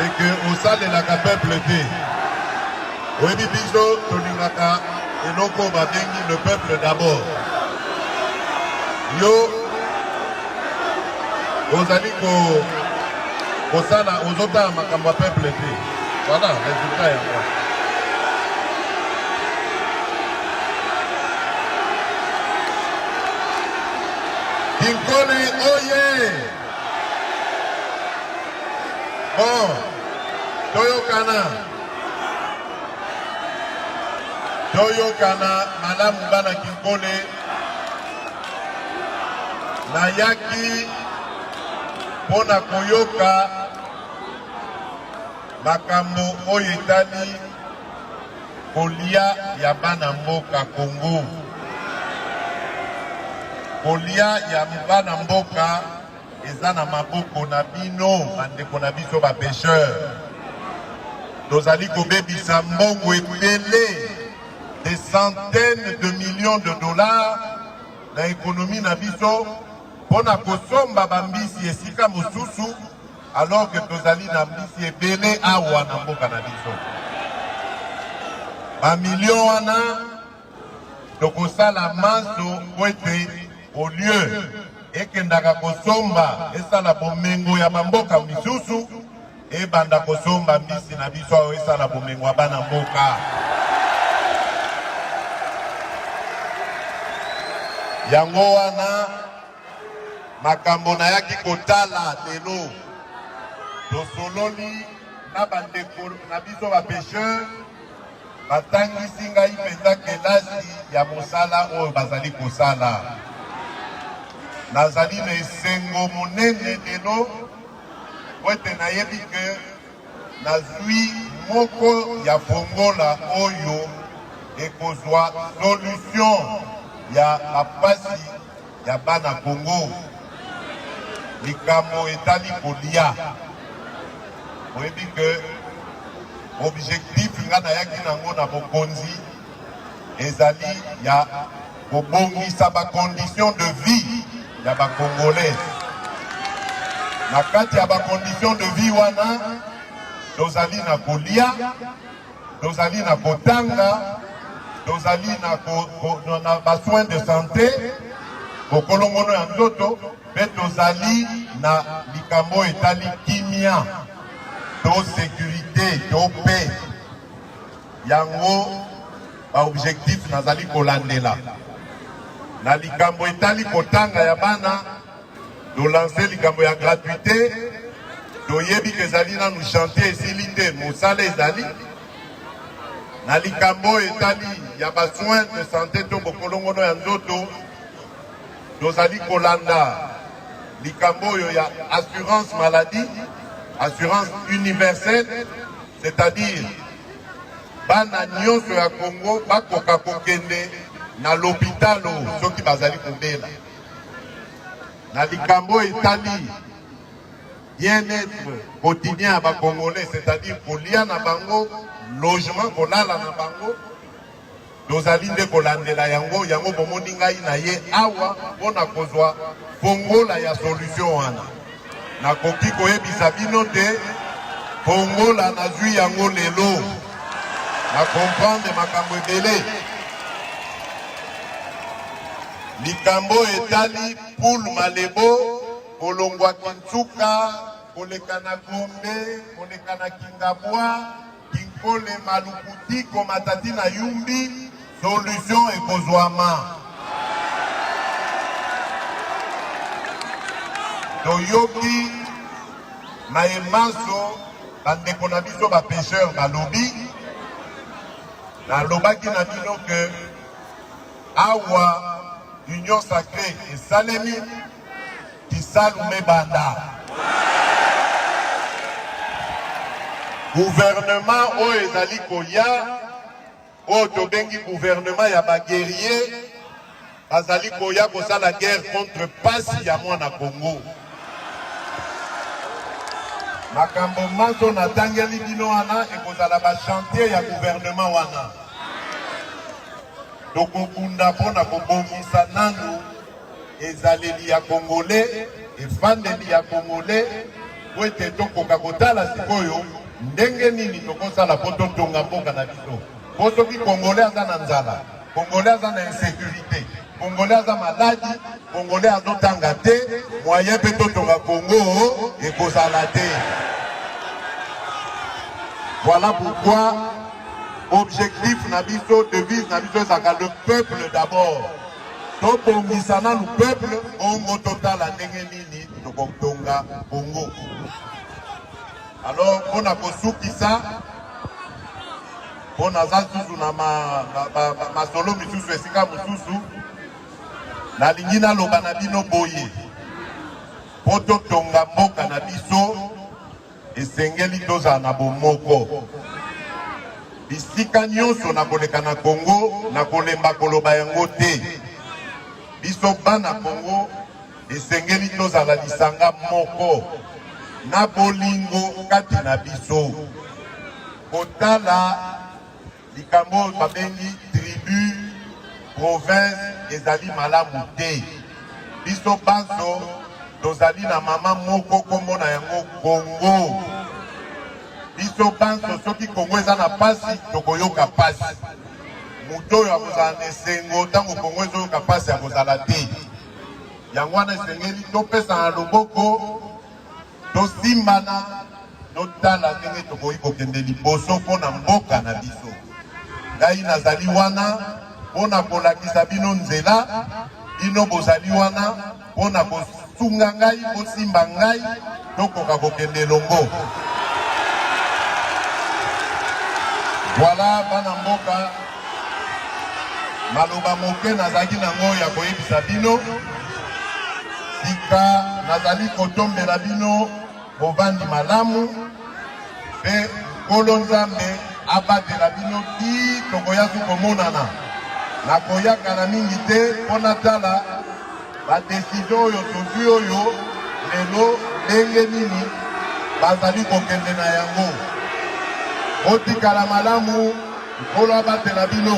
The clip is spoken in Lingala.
eke osalelaka peuple te oyebi biso tolingaka eloko babengi le peuple d'abord yo ozali ko kosala ozotala makambo ya peuple te voilà resultat yango Kinkole oye! Bon, toyokana toyokana malamu bana Kinkole. Nayaki mpo na koyoka makambo oyo etali Kolia ya bana mboka Congo, kolia ya bana mboka eza na maboko na bino, bandeko na biso ba pêcheurs. Tozali kobebisa mbongo ebele des centaines de millions de dollars na ekonomi na biso mpo na kosomba bambisi esika mosusu alors que tozali na mbisi ebele awa na mboka na biso. Bamilio wana tokosala manso mpo ete au lieu ekendaka kosomba esala bomengo ya bamboka misusu ebanda kosomba mbisi na biso oyo esala bomengo ya bana mboka. yango wana Makambo nayaki kotala lelo, tosololi na bandeko na biso bapesheur, batangisi ngai mpenza kelasi ya mosala oyo bazali kosala. Nazali na esengo monene lelo po ete nayebi ke Nazwi moko ya bongola oyo ekozwa solution ya bapasi ya bana Congo. Likambo etali kolia. Oyebi ke objectif nga nayaki nango na bokonzi ezali ya kobongisa ba conditions de vie ya ba congolais na kati ya ba conditions de vie wana tozali na kolia tozali na kotanga tozali na, ko, ko, na ba soins de santé bokolongono ya nzoto mpe tozali na likambo oyo etali kimia to securite to pe yango Ba objectif nazali kolandela na likambo etali kotanga ya bana, tolanse likambo ya gratuite. Toyebi ke ezali nanu chantier esili te, mosala ezali na likambo oyo etali ya ba soins de santé to bokolongono ya nzoto. Tozali kolanda likambo oyo ya assurance maladie, assurance universelle, c'est-à-dire Bana nyonso ya Congo bakoka kokende na lopitalo soki bazali kobela. Na likambo etali bien-etre quotidien ya bakongolais, c'est-à-dire kolia na bango, logement, kolala na bango, Tozali nde kolandela yango, yango bomoni ngai na ye awa mpo na kozwa fongola ya solution wana. Nakoki koyebisa bino te fongola nazwi yango lelo, na comprendre makambo ebele. Likambo etali poul malebo kolongwa Kinsuka koleka na Gombe koleka na Kingabwa Kinkole malukuti komatati na yumbi solution ekozwama. Toyoki maye manso bandeko na biso bapesheur balobi nalobaki na bino ke awa union sacrée esalemi Kisalu ebanda. Gouvernement oyo ezali koya oyo tobengi gouvernement ya ba guerrier bazali koya kosala guerre contre pasi ya mwana Congo. Makambo manso natangeli bino wana ekozala ba chantier ya gouvernement wana. tokobunda mpo na kobongisa nanu ezaleli ya kongole efandeli ya kongole po ete tokoka kotala sikoyo ndenge nini tokosala po totonga mboka na biso po soki kongole aza na nzala kongole aza na insécurité kongole aza maladi kongole azotanga te moyen mpe totonga kongo ekozala te voilà pourquoi objectif na biso devise na biso ezalaka le peuple d'abord tobongisa nanu peuple bongo totala ndenge nini tokotonga bongo alors mpo na kosukisa mpo naza susu na masolo misusu esika mosusu nalingi naloba na bino boye mpo totonga mboka na biso Esengeli tozala na bomoko bisika nyonso na koleka na Kongo, na kolemba koloba yango te. Biso bana Kongo esengeli tozala lisanga moko na bolingo kati na biso kotala Likambo oyo babengi tribu province ezali malamu te. Biso banso tozali na mama moko nkombo na yango Kongo. Biso banso soki Kongo eza na mpasi tokoyoka mpasi. Moto oyo akozala na esengo ntango Kongo ezoyoka mpasi akozala te. Yango wana esengeli topesana loboko. Tosimbana, totala ndenge tokoki kokende liboso mpo na mboka na biso. Ngai nazali wana mpo na kolakisa bino nzela, bino bozali wana mpo na kosunga ngai, kosimba ngai, tokoka kokende elongo. Voilà bana mboka maloba moke nazalaki nango ya koyebisa bino sika nazali kotombela bino bovandi malamu mpe nkolo nzambe abatela bino ti tokoyaki komonana nakoyaka na mingi te mpo natala badesizio oyo tozwi oyo lelo ndenge nini bazali kokende na yango botikala malamu Nkolo abatela bino.